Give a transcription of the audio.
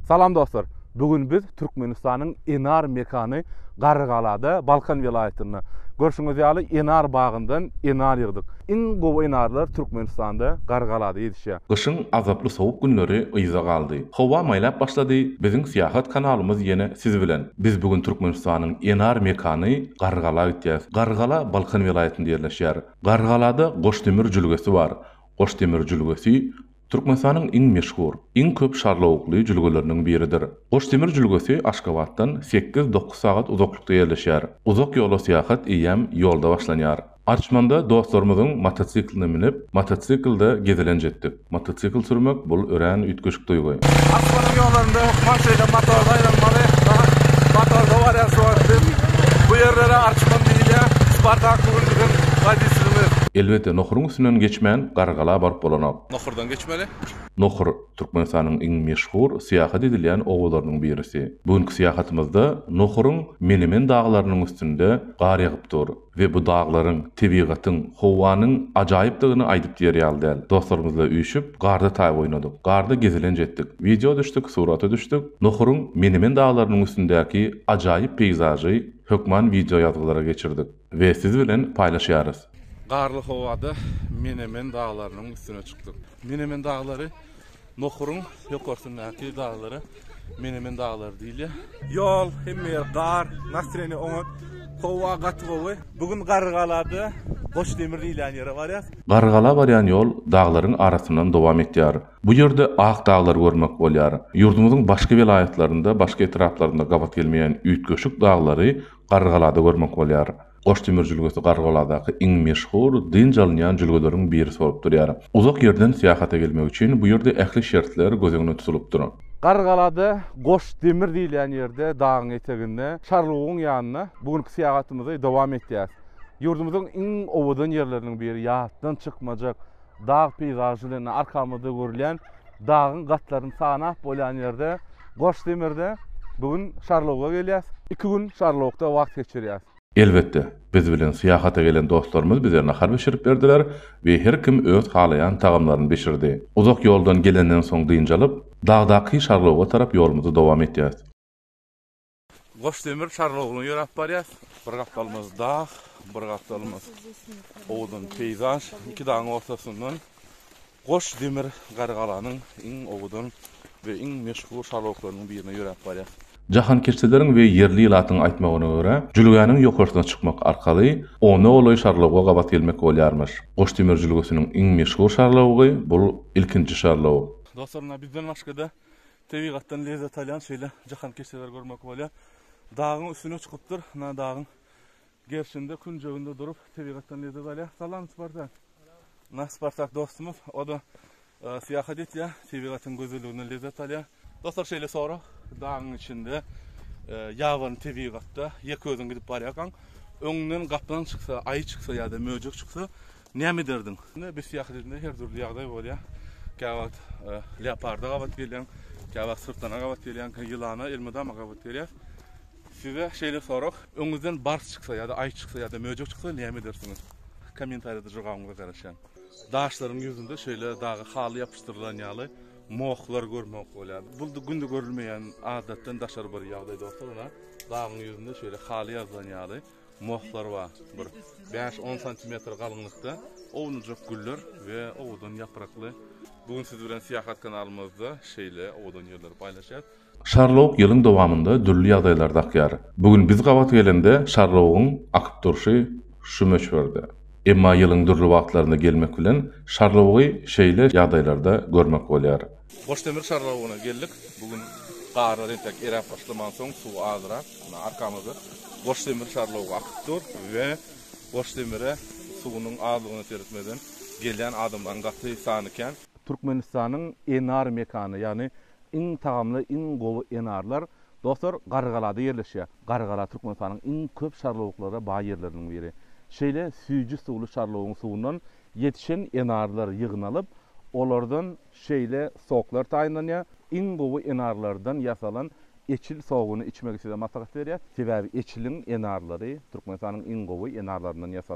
Salam dostlar! Bu gün biz Türkmenistanyň Enar mekany Garrygalada, Balkan welaýatynda. Görşüňiz ýaly, enar bagyndan enar ýygdyk. Iň gowy enarlar Türkmenistanda, Garrygalada ýetişýär. Gyşyň azaply sowuk günleri yza galdy. Howa maýlap başlady, biziň syýahat kanalymyz ýene siz bilen. Biz bu gün Türkmenistanyň Enar mekany Garrygala gitýäs. Garrygala Balkan welaýatynda ýerleşýär. Garrygalada Goşdemir jülgesi bar. Goşdemir jülgesi Türkmenistanyň iň meşhur, iň köp şarlawukly jülgeleriniň biridir. Goçdemir jülgesi Aşgabatdan sekiz-dokuz sagat uzaklykda ýerleşýär. Uzak ýola syýahat eýýäm ýolda başlanýar. Arçmanda dostlarymyzyň motosikline münüp, motosiklda gezelenç etdik. Motosikl sürmek, bul örän üýtgeşik duýgy. Arçmanyň ýollarynda maşyna motorda aýlanmaly, has motorda barýar şuwagt üçin. Bu ýerlere Arçman diýilýär. Spartak bu günki gün woditelimiz. Elbetde, nohuryň üstünden geçmän, Gargala baryp bolanok. Nohurdan geçmeli. Nohur, Türkmenistanyň iň meşhur syýahat edilýän obalarynyň birisi. Bu günki syýahatymyzda Nohuryň Menemen daglarynyň üstünde gar ýagyp dur we bu daglaryň, tebigatyň, howanyň ajaýypdygyny aýdyp diýer ýaly däl. Dostlarymyzla üýşüp, garda taý oýnadyk. Garda gezelenç etdik. Wideo düşdük, surata düşdük. Nohuryň Menemen daglarynyň üstündäki ajaýyp peýzažy hökman wideo ýazgylara geçirdik. We siz bilen paýlaşýarys. Garly howada Menemen daglarynyň üstüne çykdyk. Menemen daglary Nohuryň ýokarsyndaky daglara Menemen daglary diýilýär. Ýol, hemme ýer gar, nastreniýe oňat, howa gaty gowy. Bu gün Garrygalada Goçdemir diýilýän ýere barýas. Garrygala barýan ýol daglaryň arasyndan dowam etýär. Bu ýerde ak daglary görmek bolýar. Ýurdumyzyň başga welaýatlarynda, başga etraplarynda gabat gelmeýän üýtgeşik daglary Garrygalada görmek bolýar. Goş demir jülgesi Garrygaladaky iň meşhur, dynç alynýan jülgeleriň biri bolup durýar. Uzak ýerden syýahata gelmek üçin bu ýerde ähli şertler göz öňünde tutulypdyr. Garrygalada Goş demir diýilýän ýerde, dagyň eteginde, Çarlugyň ýanynda bu günki syýahatymyzy dowam etýäris. Ýurdumyzyň iň owadan ýerleriniň biri, ýatdan çykmajak Dag peýzažy diýende arkamyzda görülýän dagyň gatlaryny sanap bolýan ýerde Goşdemirde bu gün Şarloga gelýäs. Iki gün Şarlogda wagt geçirýäs. Elbetde, biz bilen syýahata gelen dostlarymyz bize nahar bişirip berdiler we her kim öz halaýan tagamlaryny bişirdi. Uzak ýoldan gelenden soň dynç alyp, dagdaky Şarloga tarap ýolumyzy dowam etýäs. Goş demir Çarlogluny ýöräp barýas. Bir gapdalymyz dag, bir gapdalymyz owadan peýzaž. Iki dagyň ortasyndan Goş demir Gargalanyň iň owadan we iň meşhur Çarloklarynyň birine ýöräp barýas. Jahankeşdeleriň we ýerli ilatyň aýtmagyna görä, jülgäniň ýokarsyna çykmak arkaly ona golaý Çarlowga gabat gelmek bolýarmyş. Goş demir jülgesiniň iň meşhur Çarlowgy bul ilkinji Çarlowg. Dostlar ynha bizden başgada Tebigatdan lezzet alýan şeýle jahankeşdeler görmek bolýar. Dagyň üstüne çykypdyr. Ana dagyň gerşinde, künjeginde durup tebigatdan lezzet alýar. Salam Spartak. Na Spartak dostumyz, o-da syýahat etýär, tebigatyň gözelliginden lezzet alýar. Dostlar şeýle sorag, dagyň içinde, ýabany tebigatda ýeke özüň gidip barýarkaň, öňüňden gaplaň çyksa, aýy çyksa ýa-da möjek çyksa, Näme ederdiň? Biz syýahat edende her dürli ýagdaý bolýar. Käwagt leoparda gabat gelýän, käwagt syrtlana gabat gelýän, ýylana, elmydama gabat gelýär. Size şeýle sorag, öňüňizden bars çyksa ýa-da aýy çyksa ýa-da möjek çyksa näme edersiňiz? Kommentariýada jogabyňyza garaşýan. Daşlaryň ýüzünde şeýle dagy haly ýapyşdyrylan ýaly mohlar görmek bolýar. Bu günde görülmeýän adatdan daşary bir ýagdaý dostlar. Dagyň ýüzünde şeýle haly ýazylan ýaly. Mohlar bar, bir bäş-on santimetr galyňlykda ownujak güller we owadan ýaprakly. Bu gün siz bilen syýahat kanalymyzda şeýle owadan ýerleri paýlaşýas. Şarlok ýylyň dowamynda dürli ýagdaýlar dakýar. Bu gün biz gabat gelende şarlogyň akyp durşy şu möçberde. Emma ýylyň dürli wagtlarynda gelmek bilen şarlogy şeýle ýagdaýlarda görmek bolýar. Goşdemir şarlogyna geldik. Bu gün garlar entek eräp başlamansoň suw azyrak. Ana arkamyzda Goş demir şarlawy akyp dur we Goş demire suwunyň azlygyna seretmeden gelýän adamlaryň gaty sany kän. Türkmenistanyň enar mekany, ýagny iň tagamly, iň gowy enarlar dostlar Gargalada ýerleşýär. Gargala Türkmenistanyň iň köp şarlawyklara baý ýerleriniň biri. Şeýle süýji suwly şarlawyň suwundan ýetişen enarlar ýygnalyp, olardan Şeýle soklar taýynlanýar. Iň gowy enarlardan ýasalan eçil sogyny içmegi size maslahat berýär. Sebäbi eçiliň enarlary Türkmenistanyň iň gowy enarlaryndan ýasalan.